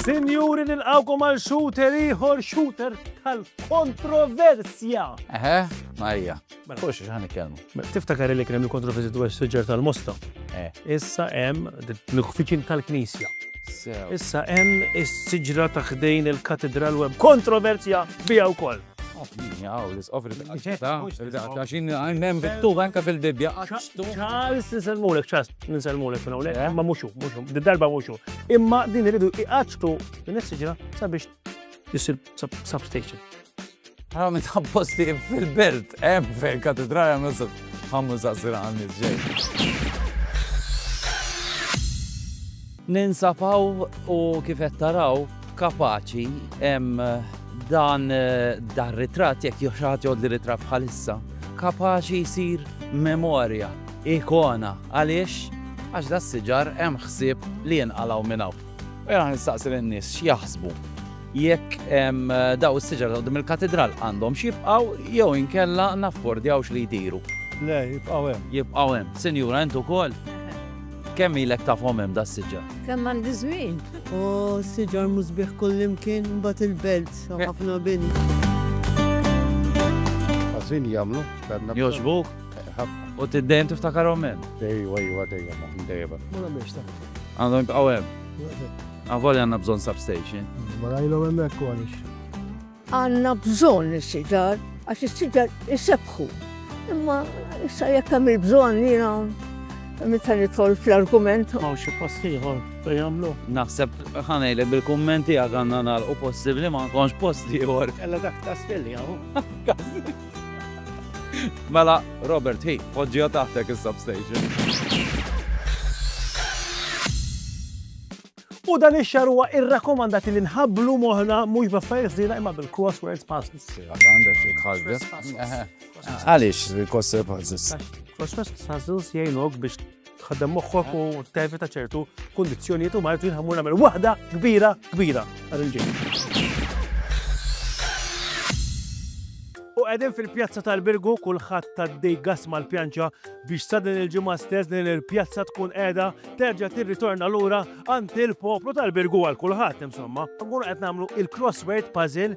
Sinjuri nilqawkom għal shooter ieħor shooter tal-kontroversja. Eħe, Marija. Mela. Fuq xi ħan ikkelmu. Mela, tiftakar li kien hemm il-kontroversi dwar is-siġar tal-mosta. Eh. Issa hemm l-uffiċin tal-Knisja. Issa hemm is-siġra ta' ħdejn il-katedral web kontroversja biha wkoll. Charles, nisalmulek, Charles, nisalmulek minn hawnhekk, eh? ma muxu, muxu, darba muxu. Imma din iridu iqaċtu din is-siġra sabiex jisir substation. Għara minn ta' posti fil-belt, em fejn katedrali għamlu sub. Għamlu saqsira għamlu ġej. Ninsapaw u kifet taraw kapaċi em dan eh, dar ritrat jek joħraħat jod li ritrat bħalissa kapaċi jisir memorja, ikona, għaliex għax da s-siġar hemm ħsieb li jinqalaw minnaw. U jena nistaqsi lin-nies x'jaħsbu jekk daw is-siġar ta' il-katidral għandhom x'jibqgħu jew inkella naffordjawx li jtiru. Le, jibqgħu hemm. Jibqgħu hemm. Sinjura, int ukoll? Kemm ilek tafhom hemm da s-siġar? Kemm għandi żmien. O, s-siġar mhu sbieħ kullimkien, imbagħad il-belt, ħafna bini. Ħażin jagħmlu. Jogħġbuk? Ħafna. U tiddejjem tiftakarhom hemm? Ejwa, ejwa, dejjem, dejjem. Ma nagħmilx ta'. Għandhom jibqgħu hemm. Avolja għandna bżonn substation. Ma rajlhom hemmhekk għaliex. Għandna bżonn is-siġar għax is-siġar isebħu. Imma issa jekk hemm il-bżonn jiena meta nidħol fl-argument. Ma xi post ieħor bejn jagħmlu. Naħseb ħanejlek bil-kummenti għandna nagħlqu possibbli ma nkunx post ieħor. Ella dak ta' spilli hawn. Mela, Robert, hi, poġġiha taħtek is-substation. U dan ix-xar huwa irrakkomandati li nħabblu moħna mhux b'affarijiet ħżiena imma bil-crosswords puzzles. Għandek xi tħaddef. Għaliex il-crosswords puzzles? Crosswords puzzles jgħinok biex tħaddem moħħok u tevita ċertu kundizzjonijiet u martu jinħamur nagħmel waħda kbira kbira għal il-ġejn. U għedin fil-pjazza tal-Birgu kulħadd tad-dej gas mal-pjanċa biex sa din il-ġimgħa stess din il-pjazza tkun qiegħda terġa' tirritorna lura għand il-poplu tal-Birgu għal kulħadd insomma. Nkunu qed nagħmlu il-crossword puzzle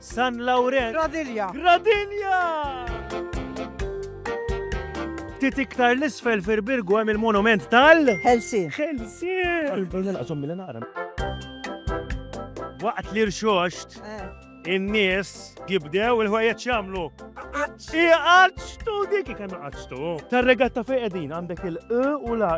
San Lawrenz. Gradilja. Gradilja! Ftit iktar l-isfel fir-Birgu hemm il-monument tal. Helsi. Helsi! Għal-bżonn naqsom mill naqra. Waqt li rxoxt, eh. in-nies jibdew il-ħwejjeġ jagħmlu. Iqaċtu dik kemm iqaċtu. Tar-regatta fejn qegħdin għandek il-q u la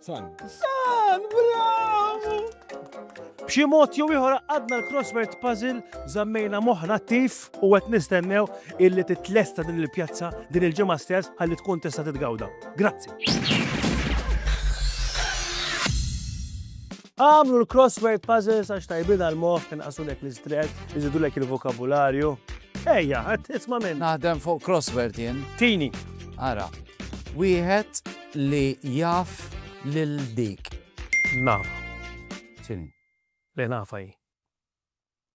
San. San, bravo! B'xi mod jew ieħor għadna l-crossword puzzle żammejna moħħna attiv u qed nistennew illi titlesta din il-pjazza din il-ġimgħa stess ħalli tkun tista' titgawda. Grazzi. Agħmlu l-crossword puzzles għax tajbin għall-moħħ, inqasulek l-istress, iżidulek il-vokabularju. Ejja, qed isma' minn. Naħdem fuq crossword jien. Tini. Ara. Wieħed li jaf lil dik. Naf. X'inhi? Le nafa hi.